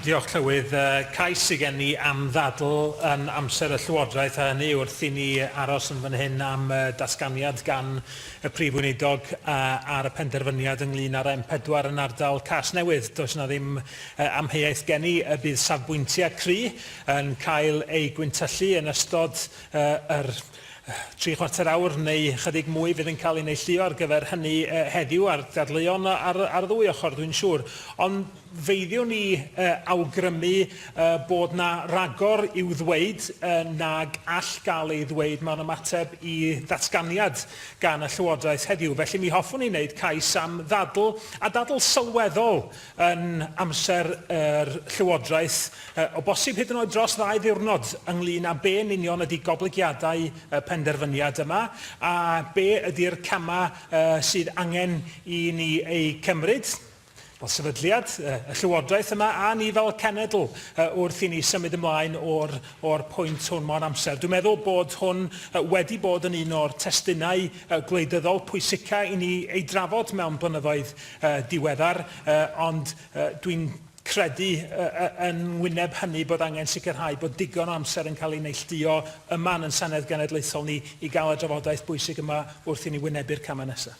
Diolch, Llywydd. Y cais sy' gen i am ddadl yn amser y Llywodraeth, a hynny wrth i ni aros yn fan hyn am y datganiad gan y Prif Weinidog ar y penderfyniad ynglŷn â'r M4 yn ardal Casnewydd. Does 'na ddim amheuaeth gen i y bydd safbwyntiau cry' yn cael eu gwyntyllu yn ystod yr tri chwarter awr neu chydig mwy fydd yn cael ei neilltuo ar gyfer hynny heddiw, a'r dadleuon ar y ddwy ochr, dwi'n siŵr. Ond, Feidiwn ni awgrymu bod 'na ragor i'w ddweud nag all gael ei ddweud mewn ymateb i ddatganiad gan y Llywodraeth heddiw. Felly mi hoffwn ni wneud cais am ddadl, a dadl sylweddol, yn amser yr Llywodraeth, o bosib hyd yn oed dros ddau ddiwrnod, ynglŷn â be yn union ydi goblygiadau y penderfyniad yma, a be ydi'r camau sydd angen i ni eu cymryd. Wel, sefydliad y Llywodraeth yma a ni fel cenedl wrth i ni symud ymlaen o'r, or pwynt hwn mewn amser. Dwi'n meddwl bod hwn wedi bod yn un o'r testunau gwleidyddol pwysica i ni ei drafod mewn blynyddoedd diweddar, ond dwi'n credu yn ngwyneb hynny bod angen sicrhau bod digon o amser yn cael ei neillduo yma yn Senedd Genedlaethol ni i gael y drafodaeth bwysig yma wrth i ni wynebu'r camau nesaf.